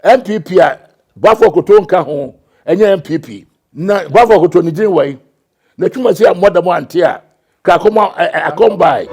NPP a Boafo Akoto nka ho ɛnyɛ NPP. Na Boafo Akoto ne din wai? Na twuma si a mmɔ dam ante a ka akɔm akɔm bae.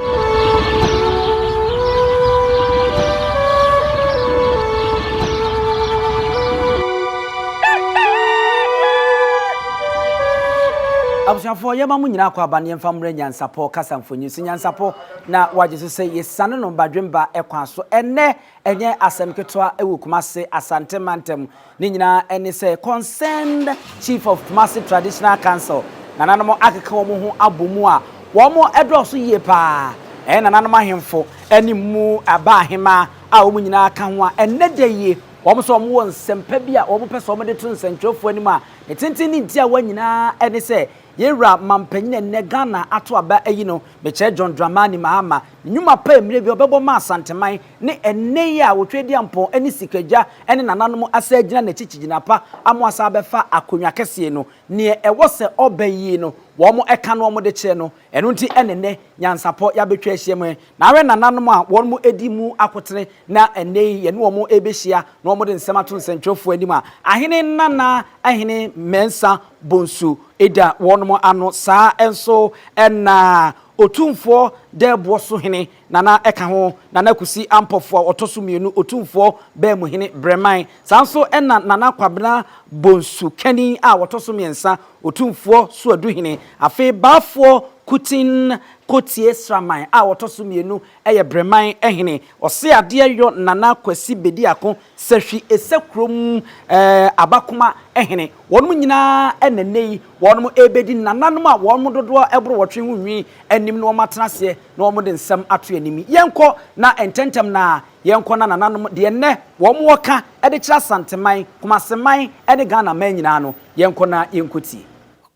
Abusuafoɔ yɛma mo nyinaa akwaaba no yɛmfa mmrɛ Nyansapɔ kasa mfonyin so Nyansapɔ na wagye so sɛ yɛsiane no badwemba kwan so ɛnnɛ Ɛnyɛ asɛm ketewa wɔ Kumasi Asante mantam. Ne nyinaa ne sɛ Concerned Chief of Kumasi Traditional Council, nananom akeka wɔn ho abɔ mu a wɔdɔɔso yie pa ara. Ɛyɛ nananom ahemfo ne mu baa ahemaa a wɔn nyinaa ka ho a ɛnnɛ da yi wɔn nso wɔwɔ nsɛmpa bi a wɔpɛ sɛ wɔde to nsɛntwerɛfoɔ anim a ne tenten ne ne tiawa nyinaa ne sɛ Yɛn wura mampanyin a nnɛ Ghana ato aba ayi no, mekyerɛ John Dramani Mahama, ne nnwuma pa a mmerɛ bi ɔbɛbɔ maa Asanteman, ne ɛnnɛ yi a Otwedeampɔn ne Sikagya ne nananom asan agyina n'akyi kyigyina pa ama wasan abɛfa akonnwa kɛseɛ no. Neɛ ɛwɔ sɛ ɔba yie no, wɔn ka no wɔn de kyerɛ no. Ɛno nti na ɛnnɛ nyansapɔ yɛabɛtwa ahyiam yi. Na ahwɛ nananom a wɔn adi mu akotene na ɛnnɛ yi yɛne wɔn rebɛhyia na wɔde nsɛm ato nsɛntwerɛfoɔ anim a, ahene nana, ahene mmiɛnsa, Bonsu da wɔnom ano saa nso na Otumfoɔ Dɛɛboɔ so hene Nana ka ho, Nana Kusi Ampɔfoɔ a ɔtɔ so mmienu, Otumfoɔ Baamuhene Breman, saa nso na Nana Kwabena Bonsu Kani a ɔtɔ so mmiɛnsa, Otumfoɔ Suaduhene. Afei Baafoɔ Kutin Kotie Sraman a ɔtɔ so mmienu yɛ Breman hene. Ɔseadeɛ Yɔ Nana Kwasi Bediako Sɛ hwi sɛ kurom eh, abakoma eh hene. Wɔnom nyinaa eh na nnɛ yi wɔnom rebɛdi ne nananom a wɔn mo dodoɔ boro wɔtwe ho nwi anim no wɔn atena aseɛ na wɔn de nsɛm ato anim yi. Yɛnkɔ na ntɛntɛm na yɛnkɔ na nananom deɛ nnɛ wɔn wɔ ka de kyerɛ Asanteman, Kumaseman ne Ghana man nyinaa no yɛnkɔ na yɛnkɔtie.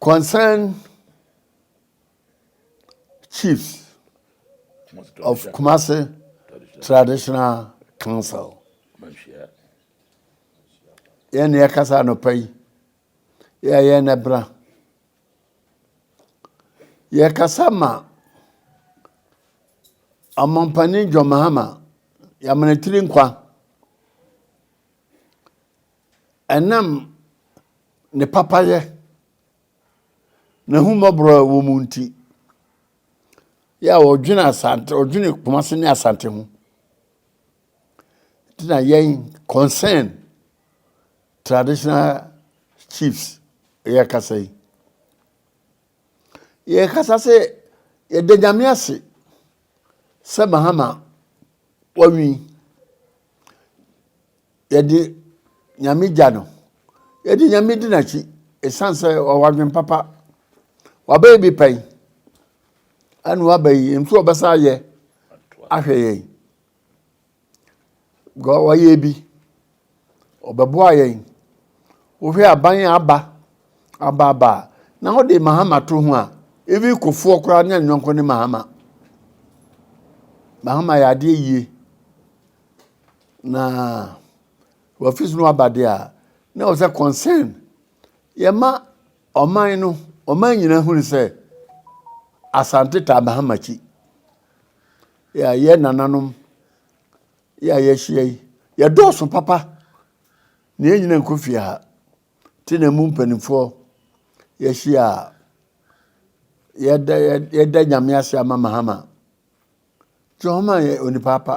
Concern Chiefs of Kumasi Traditional Council. Yɛn na yɛkasa anɔpa yi. Yɛ a yɛn na ɛbra. Yɛkasa ma ɔmampanin John Mahama yɛamana tiri nkwa. Ɛnam ne papayɛ N'ahummɔborɔ a ɛwɔ mu nti, yɛ a ɔdwene Asante, ɔdwene Kumasi ne Asante ho. Nti na yɛn concern traditional chiefs yɛ kasa yi. Yɛ kasa sɛ yɛda Nyame ase sɛ Mahama wɔnwi. Yɛde Nyame gya no. Yɛde Nyame di n'akyi ɛsiane sɛ ɔwɔ adwene papa. Wabɛyɛ bi pɛn ɛna waba yi nso ɔbɛsa ayɛ ahwɛ yɛn. Wayɛ bi ɔbɛboa yɛn. Wohwɛ aban a aba aba aba a na wode Mahama to ho a even kofoɔ koraa ne anyɔnko ne Mahama. Mahama yɛ adeɛ yie. Na wɔafi so no aba de a, na wɔ sɛ concern yɛma ɔman no, ɔman nyinaa hunu sɛ Asante Taabahamachi yɛ a yɛ nananom yɛ a yɛahyia yi, yɛdɔɔso papa na yɛn nyinaa nkɔ fie ha. Te na mu mpanimfoɔ yɛahyia a yɛda yɛda nyame ase ama Mahama. Jehohama yɛ onipa pa.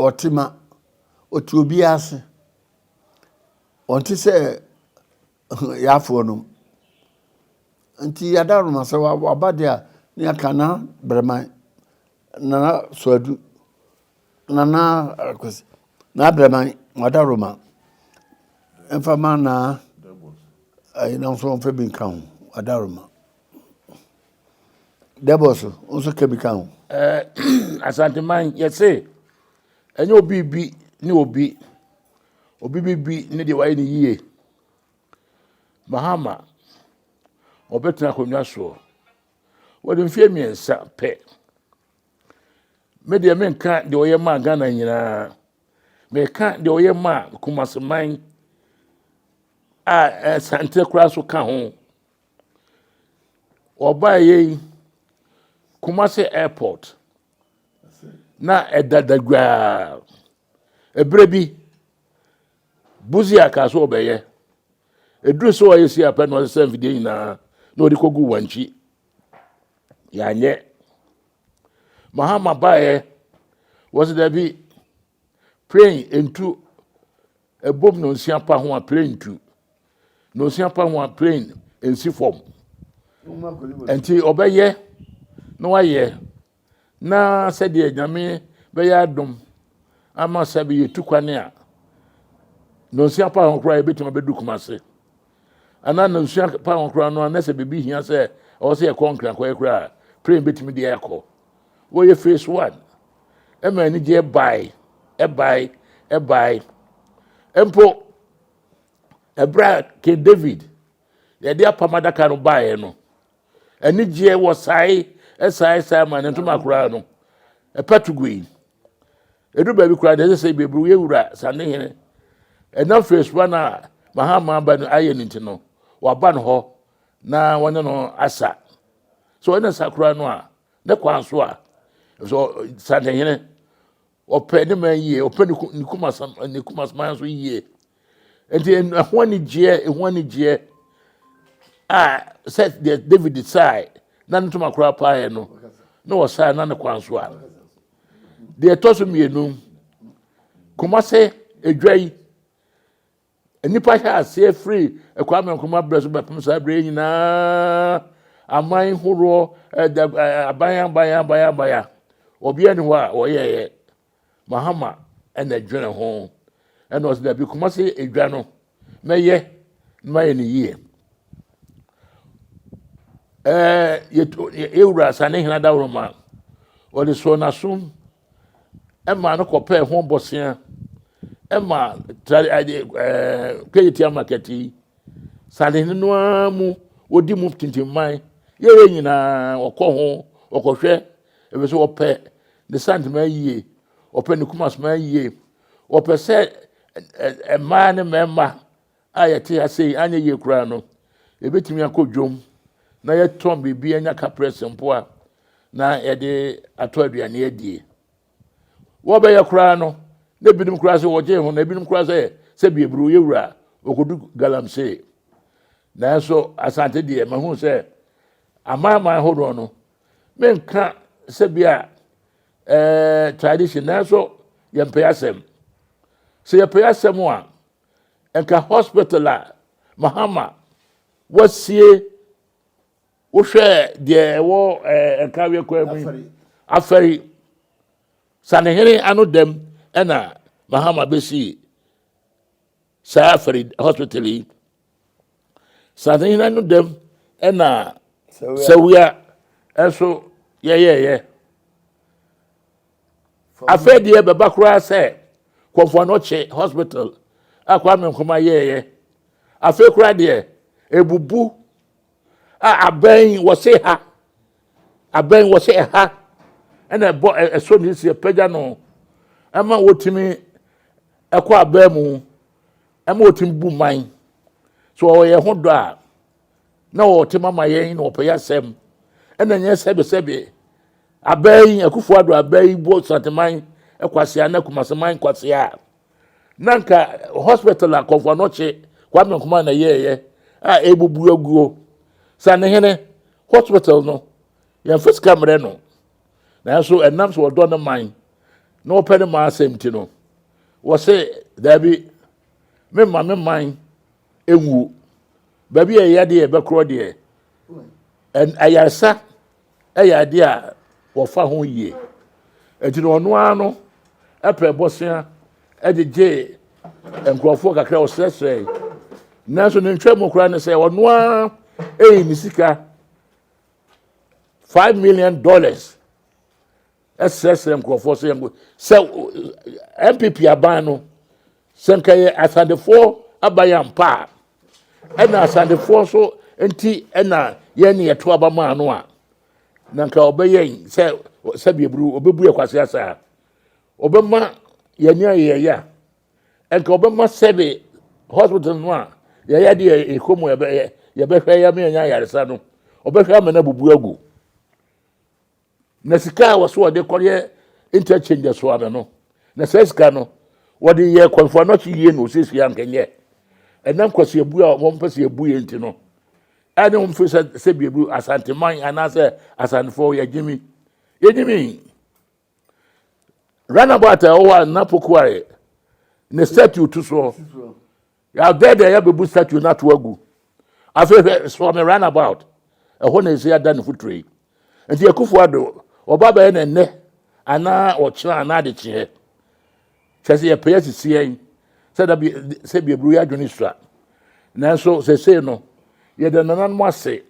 Ɔte ma. Ɔte obiara ase. Ɔnte sɛ yɛafoɔ nom. Nti yɛada noma sɛ waba deɛ a ne yɛaka na brɛman, nana soadu, nana akwasi, na brɛman, wada noma. Mfa ma na ɛyɛ na nso mfa bi nka ho. Wada noma. Dɛbɔs, wo nso ka bi ka ho. Ɛɛ Asanteman yɛse ɛnyɛ obi bi ne obi, obi bi bi ne deɛ wayɛ ne yie. Mahama ɔbɛtena akonnwa soɔ wɔde mfeɛ mmiɛnsa pɛ. Me deɛ menka deɛ ɔyɛ maa Ghana nyinaa, meka deɛ ɔyɛ maa Kumaseman a Asante koraa so ka ho. Wɔbaeɛ yi, Kumasi Airport na ɛda dagwaa. Ɛberɛ bi, Busia kaa sɛ ɔbɛyɛ. Ɛduru sɛ ɔyɛ si apɛ na ɔsesa mfidie nyinaa na ɔde kɔgu wankyi. Yɛanyɛ. Mahama baeɛ, wɔsɛ dabi, plane ntu Ɛbom nonsia pa ho a plane ntu. Nonsia pa ho a plane nsi fam. Nti ɔbɛyɛ na wayɛ na sɛdeɛ nyame bɛyɛ adom ama sɛ bɛyɛ tu kwane a nonsia pa ho koraa yɛbɛtumi abɛdu kuma se anaa nonsia pa ho koraa no anɛ sɛ biribi hia sɛ ɔwɔ sɛ yɛkɔ nkra kɔyɛ koraa plane bɛtumi deɛ akɔ Wɔyɛ phase one. Ɛma anigyeɛ bae, ɛbae, ɛbae. Mpo, ɛberɛ a King David yɛde apam adaka no baeɛ no, anigyeɛ wɔ sae, ɛsae, sae ma ne ntoma koraa no, ɛpatu gui. Ɛdu baabi koraa deɛ ɛsɛ sɛ bɛburu yɛ wura sane hene. Ɛnam phase one a Mahama ba no ayɛ no nti no, waba no hɔ na wɔne no asa. sɛ ɔyɛ ne sakora no a ne kwan so a sɛ santehene ɔpɛ ne man yie ɔpɛ ne kumasam ne kumasman so yie nti ɛho anigyeɛ ɛho anigyeɛ a sɛ deɛ david sae na ne ntoma koraa paeɛ no na ɔsae na ne kwan so a deɛ ɛtɔ so mmienu kumase adwa yi Nnipa hyɛɛ aseɛ firi Kwame Nkrumah berɛ so bɛpem saa berɛ yi nyinaa, aman horoɔ, aban aban aban aban obiara ni hɔ a wɔyɛeɛ Mahama ɛna dwene ho ɛna ɔsɛ dabi kuma se edwa no mɛyɛ na mayɛ no yie ɛɛ yɛwura Sane Hene Adaworoma ɔde soɔ n'asom ɛmaa no kɔpɛɛ ho bɔsea ɛma tra ɛɛ kweyitia market yi sanehene no ara mu wɔdi mu tintinman yɛyɛ nyinaa ɔkɔ ho ɔkɔhwɛ ebi so ɔpɛ ne santema yie ɔpɛ ne kumasoma yie ɔpɛ sɛ ɛɛ mmaa ne mmarima a yɛte ase yi anyɛ yie koraa no, yɛbɛtumi akɔ dwom na yɛtɔn biribi anya kaprɛs mpo a na yɛde atɔ aduane adie. Wɔbɛyɛ koraa no, na ebinom koraa sɛ wɔgye ho na ebinom koraa sɛ sɛ bieburo yɛ wura a ɔkɔdu galamsey. Nanso Asante deɛ mahu sɛ amanaman hodoɔ no menka sɛ bi a eh, tradition nanso yɛmpɛ asɛm. Sɛ yɛpɛ asɛm a nka hospital a mahama wasie wohwɛ deɛ ɛwɔ ɛɛ nkaweɛ kwan mu afɛre sanehene ano dɛm ɛna mahama bɛsi saa afɛre hospital yi sanehene ano dɛm ɛna sawia ɛso yɛyɛɛyɛ Afei deɛ ɛbɛba koraa sɛ Kɔmfoɔ no kye hospital a Kwame Nkrumah yɛɛyɛ. Afei koraa deɛ ɛbubu a abɛn wɔse ha abɛn wɔse ɛha ɛna ɛbɔ ɛso ne si ɛpagya no ɛma wɔtumi ɛkɔ abɛn mu ɛma wɔtumi bu man so wɔyɛ ho dɔ a na wɔte mama yɛn na wɔpɛ yɛasɛm ɛna nyɛ sɛbesɛbe abɛɛ yi akufo ado abɛɛ yi bɔ santeman kwasia na kumaseman kwasia na nka hospital a kɔnfo anɔkye kwame nkoma na yɛɛyɛ a ɛbubu aguo sa ne hene hospital no yɛn fisika mmerɛ no nanso ɛnam sɛ wɔdɔ ne man na wɔpɛ ne man asɛm ti no wɔse daabi memma me man ɛnwuo Baabi a ɛyɛ deɛ ɛbɛkorɔ deɛ ayaresa yɛ adeɛ a wɔfa ho yie nti na ɔno ara no pɛ bɔsea gyegye nkurɔfoɔ kakra ɔsrɛsrɛe nanso ne ntwa mu koraa ne sɛ ɔno ara ɛyi ne sika five million dollars srɛsrɛ nkurɔfoɔ sɛ yɛnko sɛ npp aban no sɛ nka yɛ asadefoɔ aban ampa a ɛna asadefoɔ so nti ɛna yɛn ne yɛto aba maa no a na nka ɔbɛyɛ sɛ sɛbi eburu ɔbɛbu yɛ kwasi asa a ɔbɛma yɛn ne ayɛ yɛ a nka ɔbɛma sɛbi hospital no a yɛyɛ de yɛ ekɔ mu yɛbɛyɛ yɛbɛhwɛ yɛ ama yɛn ayaresa no ɔbɛhwɛ ama no abubu agu. Na sika a wɔso wɔde kɔyɛ interchange so ano no, na saa sika no wɔde yɛ kwanfo anɔkye yie na osiesie ankɛnyɛ. Ɛnam kwasiabu a wɔn mpɛ sɛ ebu yɛ nti no, a ne wɔn fi sɛ sɛ biebu asanteman anaasɛ asantefo yɛ gyimi. Yɛ gyimi. Runabout a ɛwɔ hɔ a na pokuare ne statue to soɔ. Yɛabɛ deɛ yɛbɛbu statue no ato agu. Afei hwɛ sɔ me run about. Ɛhɔ na ɛsɛ ada ne futuro yi. Nti akufo ado ɔba bɛyɛ na nnɛ anaa ɔkyena anaa de kyeɛ. Kyɛ sɛ yɛpɛ asisi yɛn sɛ da bi sɛ bi aburu yɛ adwene sua. Nanso sɛsei no yɛda nananom ase.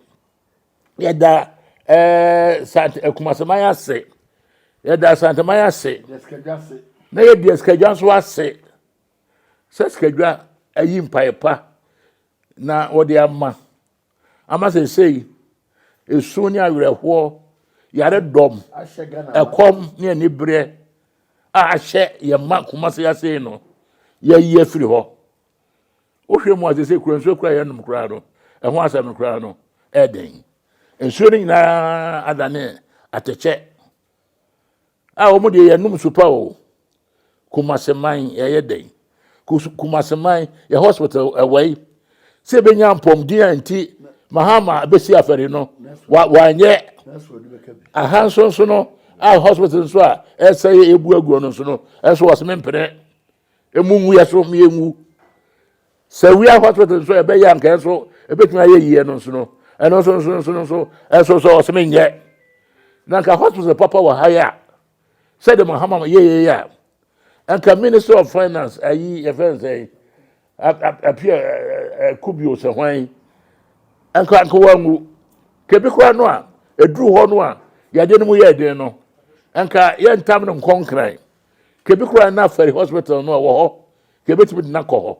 Yɛda ɛɛ eh, sant akumaseman ase. Yɛda asanteman ase. Na yɛdi asikadwa nso ase. sɛ sikadwa ayi mpaeɛ pa na wɔde ama ama sɛ sei esu ne awerɛhoɔ yare dɔm ɛkɔm ne anibereɛ a ahyɛ yɛn mma koma se ase no yɛyi afiri hɔ wohwɛ mu ase sɛ kura nsuo kura yɛnom koraa no ɛho asɛm no koraa no ɛden nsuo no nyinaa adane atɛkyɛ a wɔn deɛ yɛnom nsu pa o kumaseman yɛyɛ dɛn kumaseman yɛ hospital ɛwɔ yi sɛ ebɛnya mpɔmden a nti mahama bɛsi afɛre no wanyɛ aha nso nso no a hospital nso a ɛsɛ yɛ ebu aguo no nso no ɛnso wɔsɛ mempene emu ngu yɛ so mmea ngu sɛ wia hospital nso ɛbɛyɛ anka ɛso ɛbɛtumi ayɛ yie no nso no ɛno nso nso nso nso ɛso sɛ ɔsɛm nyɛ na nka hospital papa wɔ ha yɛ a sɛde mahama yɛ yɛ yɛ a nka minister of finance ayi yɛfɛ nsɛn apia kubio sɛ hwan nka nka wangu kebi koraa no a ɛduru hɔ no a yɛde no mu yɛ den no nka yɛntam no nkɔnkran kebi koraa na afɛri hospital no a wɔ hɔ kebetumi de nakɔ hɔ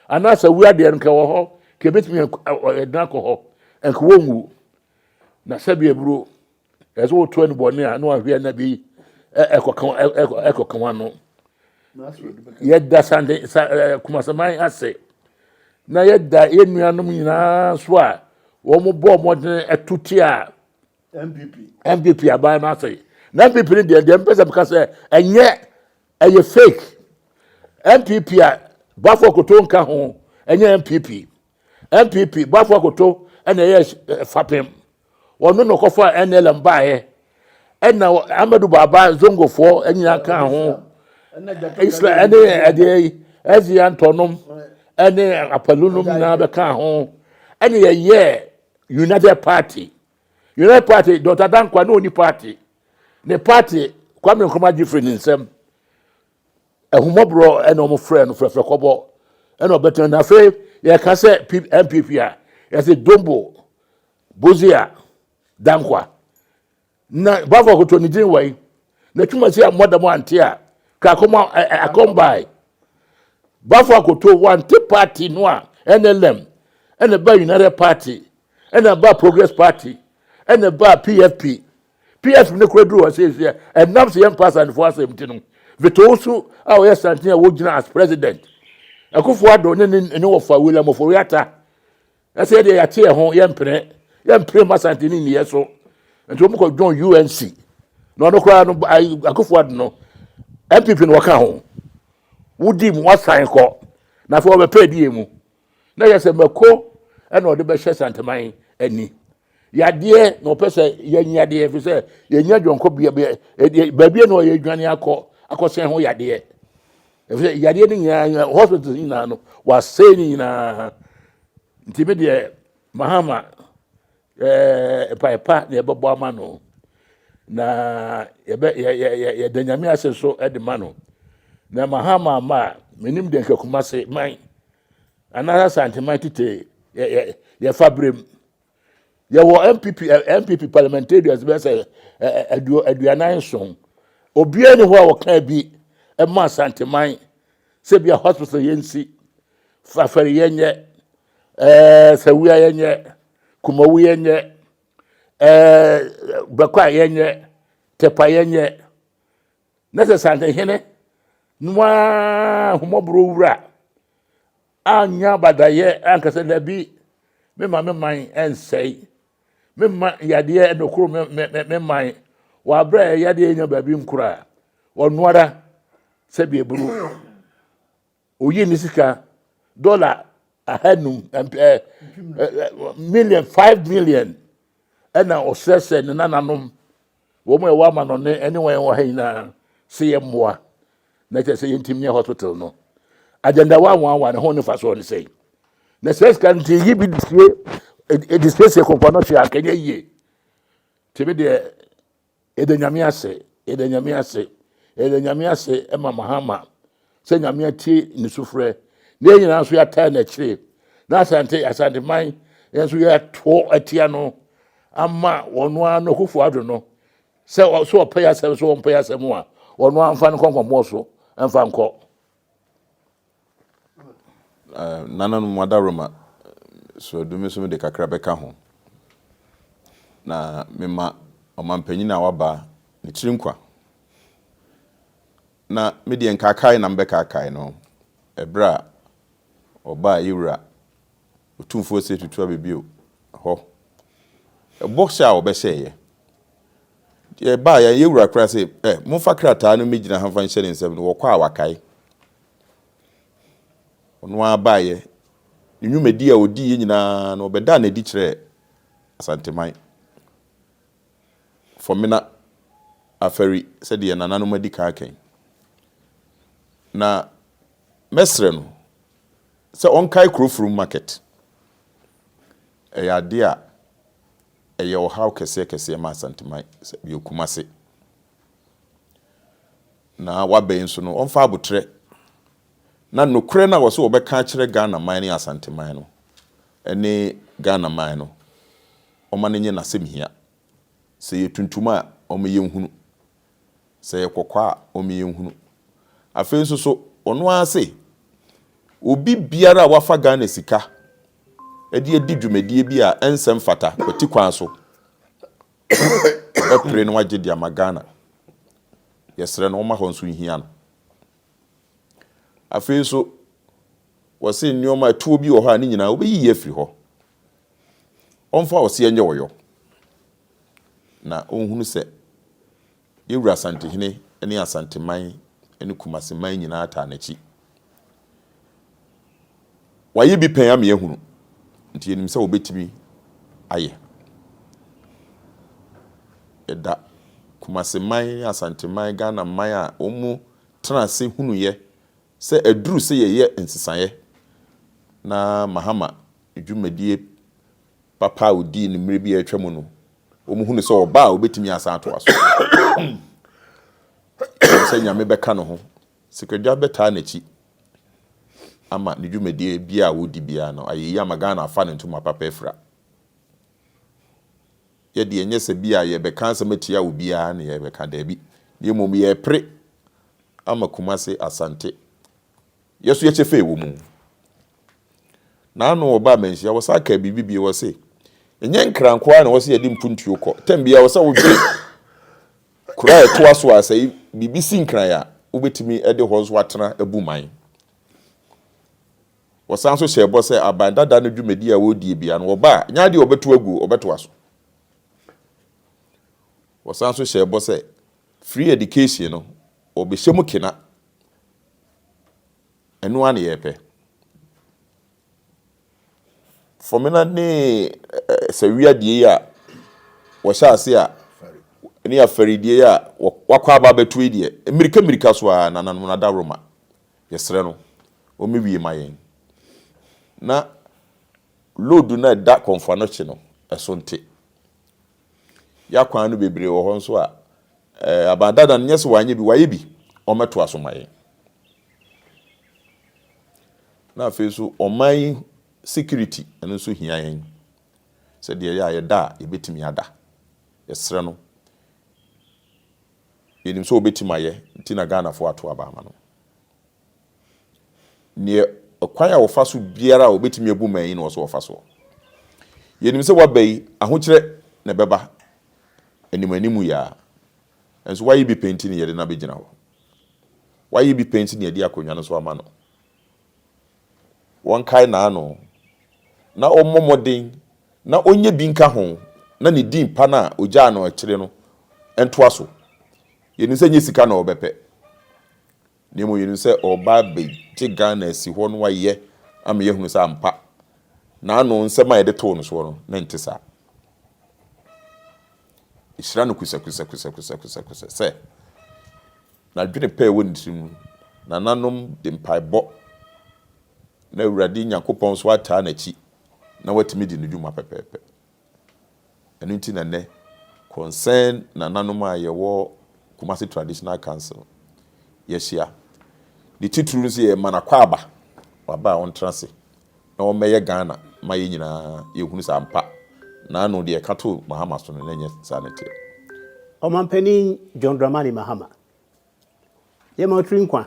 anaasɛ wu adeɛ no nka wɔ hɔ kebetumi de nakɔ hɔ nka wɔnwu na sɛbi eburo ɛsɛ wɔtu ɛni bɔne a na wahwɛ na bi ɛkɔka ɛkɔka ho ano yɛda sande sa ɛɛ kumasaman ase na yɛda yɛn nuanom nyinaa so a wɔn bɔ wɔn de ɛtuti a. npp npp aban no asɛe na npp no deɛ deɛ mpɛ sɛ meka sɛ ɛnyɛ ɛyɛ fake npp a bafo akoto nka ho ɛnyɛ npp npp bafo akoto ɛna ɛyɛ eh, fapem wɔn no na ɔkɔfa nlm baeɛ ɛna amadu baaba zongofoɔ nyinaa ka ho islam ɛne ɛdeɛ yi ɛzi antɔnom ɛne apalunom nyinaa bɛka ho ɛna yɛyɛ united party. United Party, Dɔkta Dankwa ne ɔni party. Ne party, Kwame Nkrumah gye firi ne nsam. Ahummɔborɔ ɛna wɔn frɛ no fɛfɛ kɔbɔ ɛna ɔbɛtena. Na afei yɛka sɛ NPP a, yɛsɛ Dombo, Bozia, Dankwa. Na Bafo Akoto ne din wai. Na twuma si a mmɔda mu ante a, ka akɔma akɔmbae. Bafo Akoto wante party no a NLM ɛna ba United Party. ɛna ɛbaa progress party ɛna ɛbaa pfp pfp ne kora duru hɔ sɛ ɛsɛ ɛnam sɛ yɛmpa asantefoɔ asɛm nti no vetoo so a ɔyɛ santen a wɔgyina as president ɛkofoɔ adɔ ne ne ne wɔfa william ɔfɔri ata ɛsɛ deɛ yɛate yɛ ho yɛmpene yɛmpene ma santen ne nniyɛ so nti wɔn kɔ dwon unc na ɔno koraa no akofoɔ ado no mpp no wɔka ho wodi mu wasan kɔ na afei wɔbɛpɛ adiyɛ mu na yɛ sɛ mako ɛna ɔde bɛhyɛ santaman ani yadeɛ na ɔpɛ sɛ yɛn yadeɛ fi sɛ yɛn nya dwɔnkɔ bia bia ɛdeɛ baabi na ɔyɛ dwane akɔ akɔsɛn ho yadeɛ ɛfi sɛ yadeɛ no nyinaa hospitals nyinaa no wasɛe no nyinaa nti mi deɛ mahama Ɛɛ, mpae pa na yɛbɛbɔ ama no, na yɛbɛ yɛ yɛ yɛ yɛda nyame ase nso de ma no. Na ma ha ma ma a, menim deɛ nka kuma se man anaasɛ asanteman tete yɛ yɛ yɛfa berem. Yɛwɔ MPP ɛ- MPP parliamentarians bɛyɛ sɛ ɛ- ɛ- aduo aduanan nson. Obiara ni hɔ a wɔkaa bi ɛma asanteman sɛ bia hospital yɛnsi, fafɛre yɛnyɛ, Ɛɛ sɛ wia yɛnyɛ kumawu yɛnyɛ ɛɛ bɛkɔ a yɛnyɛ tɛpa yɛnyɛ na sɛ santehene noa homɔborɔ wura anya badayɛ ankasa dabi mema me man ɛnsɛe mema yadeɛ ɛnokoro me, me, me, me man wɔ aberɛ a yadeɛ nya baabi nkura ɔnoara sɛdeɛ buru Oyii ne sika dɔla ahanum million five million ɛna ɔsrɛ sɛ ne nananom wɔn a ɛwɔ amanɔne ɛne wɔn ɛwɔ ha nyinaa sɛ yɛ mmoa na kyerɛ sɛ yɛntim ne hospital no agenda wa wɔn awa ne ho ne fa so ne sɛ na sɛ sika nti yi bi disie edisiesie kɔnkɔn no hyɛ akɛnyɛ yie tebe deɛ Yɛda Nyame ase, yɛda Nyame ase, yɛda Nyame ase ma Mahama sɛ Nyame atie ne sufrɛ na yɛn nyinaa nso yɛataa n'akyire na Asante Asanteman yɛn nso yɛatoɔ atia no ama ɔno ara no Akufo Addo no sɛ ɔ- sɛ ɔpɛ yɛ asɛm sɛ ɔmpɛ yɛ asɛm a ɔno ara mfa no nkɔ nkɔmmɔɔ so mfa nkɔ Nananom adaworoma sraadu me nso mede kakra bɛka ho. Na mema ɔmanpanyin a waba ne tiri nkwa. Na me deɛ nkaakae na mebɛkaakae no ɛberɛ a ɔbaa yɛwura Otumfoɔ se tutu abɛ bio hɔ. Ɛbɔ hyɛ a wɔbɛhyɛɛ yɛ. Nti ɛbaa yɛ, yɛ wura koraa se, ɛ, momfa krataa no mmɛgyina ha mfa nhyɛ ne nsam no, wɔkɔ a wakae. Ɔno ara baa yɛ. Ne nwumadi a ɔdii yɛ nyinaa no, ɔbɛdaa no adi kyerɛɛ Asanteman, Fɔmena, Afari, sɛdeɛ yɛn nananom adi kan aka yi. Na mɛsrɛ no, sɛ ɔnkae Kurofrom Market. Ɛyɛ adeɛ a ɛyɛ ɔhaw kɛseɛ kɛseɛ ma Asanteman, sɛ ɛyɛ Kumase. Na waba yi nso no, ɔmfa aboterɛ na nokorɛ no a wɔse wɔbɛka akyerɛ Ghanaman ne Asanteman no, ɛne Ghanaman no, ɔma no nyɛ n'asɛmhia. Sɛ ɛyɛ tuntum a, ɔma yɛnhunu. Sɛ ɛyɛ kɔkɔɔ a, ɔma yɛhunu. Afei nso so, ɔno ara se, Obi biara a wafa Ghana sika de adi dwumadie bi a ɛnsɛ mfata kwati kwan so, ɔbɛpere na wagye de ama Ghana. Yɛsrɛ no ɔmma hɔ nso nhia no. Afei nso, wɔse nneɛma, atuo bi wɔ hɔ a ne nyinaa wobɛyiyi afiri hɔ. Ɔmfa ɔseɛ nyɛ ɔyɔ. na ɔnhunu sɛ Yawuru Asantehene ne Asanteman ne Kumaseman nyinaa taa n'akyi. Wayɛ bi pɛn ama yɛahunu, nti yɛnim sɛ ɔbɛtumi ayɛ. Yɛda Kumaseman, Asanteman, Ghana man a wɔtena ase hunuiɛ Sɛ ɛduru sɛ yɛyɛ nsesaeɛ na Mahama dwumadie papa a ɔdii no mmerɛ bi a atwa mu no, wɔhunu sɛ ɔba a ɔbɛtumi asan atoa so. Ɛwom sɛ Nyame bɛka ne ho, sikadwa bɛtaa n'akyi ama ne dwumadie biara a ɔdi biara no ayɛ yie ama Ghana afa ne ntoma papa afira. Yɛ deɛ nyɛ sɛ bi a yɛbɛka asɛm atia obiara na yɛbɛka, daabi, na mmom yɛrepere ama Kumase, Asante. Yɛ so yɛkyɛ fɛ wɔ mu. N'ano ɔbaa manhyia, wɔsan kaa biribi bio, ɔse, Ɛnyɛ nkra nko ara na ɛwɔ sɛ yɛde mpuntuo kɔ, tɛm biara ɛwɔ sɛ wodwene kuro a ɛtoa so a sɛ biribi si nkran a, wobɛtumi de hɔ nso atena abu man. Wɔsan nso hyɛɛ bɔ sɛ aban dada no dwumadi a wɔredie biara no, wɔba a, ɛnyɛ adeɛ a wɔbɛto aguo, wɔbɛtoa so. Wɔsan nso hyɛɛ bɔ sɛ free education no, wɔbɛhyɛ mu kena. Ɛno ara na yɛpɛ. Fɔmena ne Sawia die yi a wɔhyɛ ase a, ne Afari die yi a wɔakɔ aba abɛto yi deɛ, mmirika mmirika so ara, nananom no adaworoma. Yɛsrɛ no ɔmɛwie ma yɛn na load no a ɛda Kɔmfoanohye no ɛso nte. Ya kwan no bebree wɔ hɔ nso a ɛɛ Aban Dada no nyɛ sɛ wanyɛ bi, wayɛ bi, ɔmɛtoa so ma yɛn. Na afei nso ɔman security ɛno nso hia yɛn sɛdeɛ ɛyɛ a yɛda a yɛbɛtumi ada. Yɛsrɛ no. Yɛnim sɛ ɔbɛtim ayɛ nti na Ghanafoɔ ato aba ama no. Neɛ ɛkwan a ɔfa so biara a ɔbɛtumi abu man yi na ɔsɛ ɔfa soɔ. Yɛnim sɛ waba yi ahokyerɛ na ɛbɛba anim anim yi ara. Nso wayɛ bi pɛ nti na yɛde no abɛgyina hɔ. Wayɛ bi pɛ nti na yɛde akonnwa no nso ama no. wɔnkae n'ano, na ɔmmɔ mmɔden na ɔnyɛ bi nka ho, na ne din pa no a ɔgyaa no akyire no ntoa so. Yɛnim sɛ ɛnyɛ sika na ɔrebɛpɛ, na mmom yɛnim sɛ ɔreba abɛgye Ghana asi hɔ na wayɛ ama yɛahunu sɛ ampa n'ano nsɛm a yɛde too no soɔ no, na ɛnte saa. Ɛhyira no kusakusɛkusɛkusɛkusɛkusɛ sɛ. N'adwene pa a ɛwɔ ne tirim no, nananom de mpaebɔ na Awurade Nyankopɔn nso ataa n'akyi na watumi adi ne dwuma pɛpɛɛpɛ. Ɛno nti na nnɛ Concerned nananom a yɛwɔ Kumasi Traditional Council yɛahyia. Ne titiriw no sɛ yɛrema no akwaaba, ɔba a ɔntra ase na ɔmmɛyɛ Ghana ma yɛn nyinaa yɛhunu sɛ ampa na ano deɛ ɛka too Mahama so no na ɛnyɛ saa na ɛteɛ. Ɔmanpanin John Dramani Mahama, yɛma wo tiri nkwa.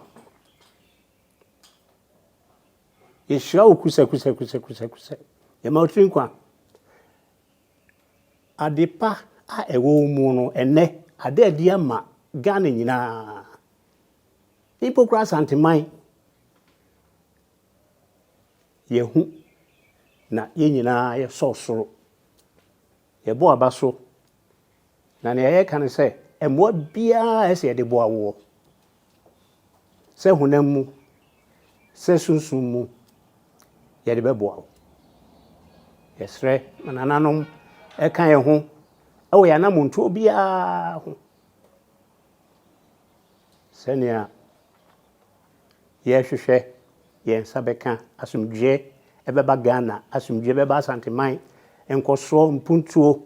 Yɛhyira wo kusɛkusɛkusɛkusɛkusɛ. Yɛma wo tiri nkwa. Ade pa a ɛwɔ wo mu no, ɛnnɛ, ada adi ama Ghana nyinaa. Mpo koraa Asanteman. Yɛahu, na yɛn nyinaa yɛsɔɔ soro. Yɛbɔɔ aba so, na nea yɛka ne sɛ, Mmoa biara a ɛsɛ yɛde boa woɔ, sɛ honam mu, sɛ sunsum mu, yɛde bɛboa wo. Yɛsrɛ ma nananom ɛka yɛn ho wɔ yɛn anammɔntuo biara ho, sɛnea Yɛhwehwɛ yɛn nsa bɛka asomdwoeɛ ɛbɛba Ghana, asomdwoeɛ bɛba Asanteman, nkɔsoɔ, mpuntuo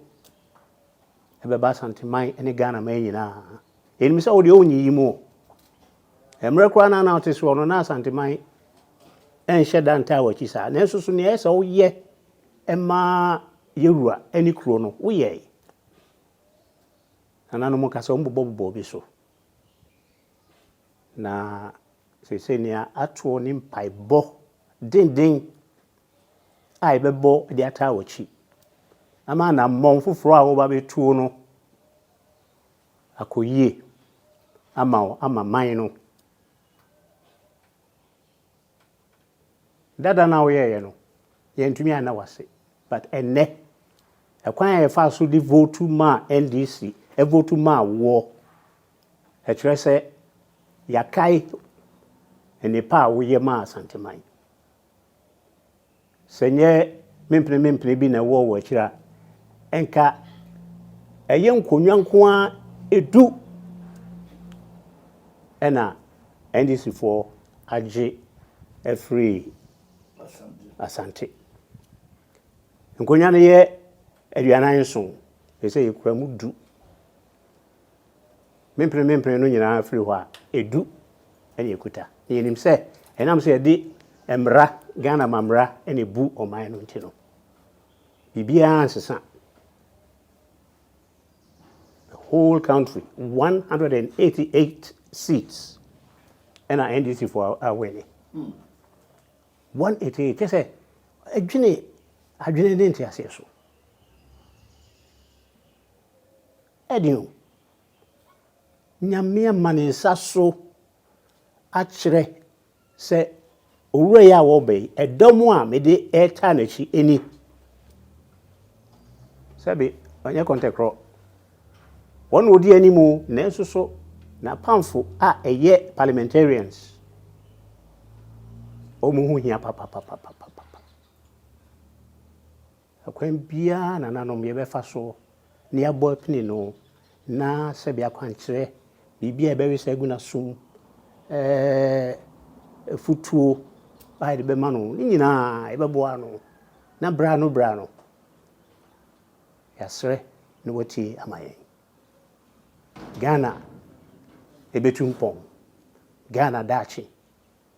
ɛbɛba Asanteman ne Ghanaman nyinaa. Yɛnim sɛ wodeɛ wonyiyi mu o. Mmerɛ koraa no a na wote soɔ no na Asanteman ɛnhyɛ da ntaa w'akyi saa. Nanso so nea ɛyɛ sɛ woyɛ ɛma yɛwura ɛne kuro no woyɛe. Nananom ka sɛ wɔn bobɔ bobɔ obi so. Na seesei nea atoɔ ne mpaebɔ denden a yɛbɛbɔ de ataa w'akyi ama anammɔn foforɔ a wɔba bɛtuo no akɔ yie ama wo ama man no. Dada no a woyɛeɛ no, yɛantumi anna wo ase. But ɛnnɛ, ɛkwan a yɛfaa so de votu maa NDC, ɛvotu maa woɔ. Ɛkyerɛ sɛ yɛakae nnepa a woyɛ maa Asanteman. Sɛ ɛnyɛ mempene mempene bi na ɛwɔ wɔ akyiri a, nka ɛyɛ nkonnwa nko ara du na NDCfoɔ agye afiri Asante. Nkonnwa no yɛ aduanan nson, ɛsɛ sɛ yɛkura mu du. Me mpene me mpene no nyinaa firi hɔ a, edu na ekuta. Na yɛnim sɛ ɛnam sɛ yɛde mmara, Ghana ma mmara na ebu ɔman no nti no, biribiara nsesa. The whole country, 188 seats ɛna NDC fo awɛne. 188, kyɛ sɛ adwene adwene ne nteaseɛ so. ɛne o. Nyame ama ne nsa so akyerɛ sɛ owura yi a wɔreba yi, ɛdɔm a mede retaa n'akyi ni. Sɛbe ɔnyɛ kɔntɛkorɔ, wɔn na wɔdi anim o, nanso so n'apamfo a ɛyɛ parliamentarians, wɔn ho hia papapapapapa. Ɛkwan biara a nananom yɛbɛfa so na yɛabɔ apini no, na sɛbe akwankyerɛ, biribi a yɛbɛwe sɛ agu no asom, ɛɛ, afutuo a yɛde bɛma no, ne nyinaa yɛbɛboa no, na berɛ ano berɛ ano yɛasrɛ na watie ama yɛn. Ghana ɛbɛtu mpɔn. Ghana daakye.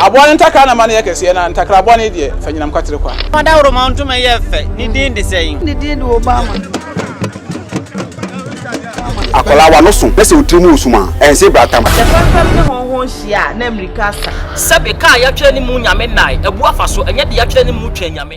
Aboa no ntakra na ma no yɛ kɛseɛ, na ntakra bɔne deɛ, fa nyinam kwatere kwa. Fa dawuroma ntoma yɛ fɛ, ne din de sɛn? Ne din de Obama. Akwadaa w'ano so na sɛ wo tiri mu resum a, ɛnse brata ma. Sɛ fɛmfɛm ne hɔnhɔn hyia a, na mmirika asa. Sɛbe kaa yɛatwerɛ ne mu Nyame nnae, abu afa so, ɛnyɛ deɛ yɛatwerɛ ne mu twɛn Nyame.